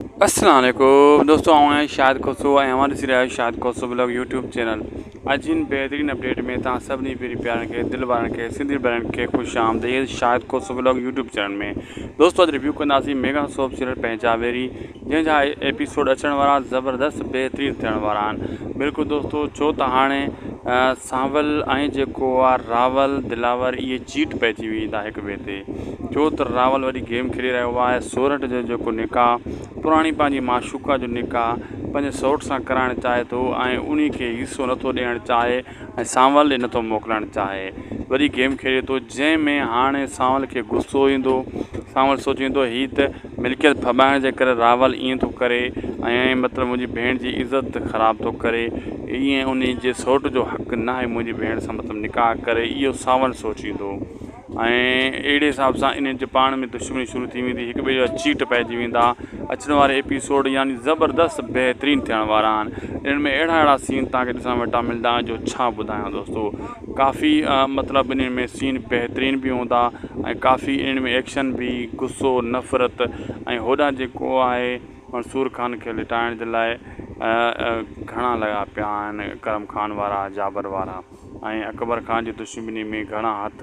السلام عليڪم دوستو آئون آهيان شاهد کوسو ۽ اوهان ڏسي رهيا آهيو Shahid Khoso blog YouTube channel اڄ هن بهترين اپڊيٽ ۾ توهان سڀني پيري پيارن کي دل وارن کي سنڌي ڀائرن کي خوش آمديد Shahid Khoso blog YouTube channel ۾ دوستو اڄ ريويو ڪنداسين ميگا سوپ سيريل پنهنجا ويري جنهن جا ايپيسوڊ اچڻ وارا زبردست بهترين ٿيڻ وارا آهن بلڪل دوستو ڇو ته هاڻي سانول ۽ جيڪو آ راول دلاور اهي چيٽ پئي ٿي ويندا هڪ ٻئي تي ڇو ته راول وڏي گيم کيڏي رهيو آهي سورٺ جو جيڪو نڪاح پراڻي پنهنجي معشوقه جو نڪاح پنهنجي سورٺ سان ڪرائڻ چاهي ٿو ۽ انهي کي حصو نٿو ڏيڻ چاهي ۽ سانول ڏي نٿو موڪلڻ چاهي وڏي گيم کيڏي ٿو جنهن ۾ هاڻي سانول کي غصو ايندو سانول سوچيندو هي ته ملڪيت ڦٻائڻ جي ڪري راول ائين ٿو ڪري ۽ مطلب منهنجي ڀيڻ جي عزت خراب ٿو ڪري ائين ان جي سوٽ جو حق ناهي منهنجي ڀيڻ سان مطلب نڪاح ڪري اهو ساول سوچيندو ۽ اهڙي حساب سان انهن جي پاڻ ۾ دشمني شروع ٿي ويندي هڪ ٻئي جا چيٽ پئجي ويندا اچڻ واري ايپيسوڊ يعني زبردست بهترين ٿيڻ وارا آهن انهن ۾ اهڙا اهڙا سين تهانکي ڏسڻ وٽان ملدا جو ڇا ٻڌايان دوستو ڪافي مطلب انهن ۾ سين بهترين به هوندا ۽ ڪافي انهن ۾ ايڪشن به غصو نفرت ۽ هوڏانهن جيڪو آهي منصور خان کي لٽائڻ جي لاء گهڻا لڳا پيا آهن ڪرم خان وارا جابر وارا ۽ اڪبر خان جي دشمني ۾ گهڻا هٿ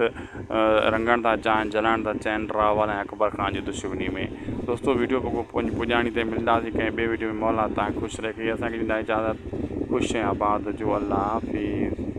رنگڻ ٿا چاهن جلائڻ ٿا چاهن راول ۽ اڪبر خان جي دشمني ۾ دوستو ويڊيو پوء پنهنجي پڄاڻي تي ملنداسي ڪنهن ٻي ويڊيو ۾ مولا تان خوش رکي اسان کي ڏيندا اجازت خوش ۽ آباد هجو الله حافظ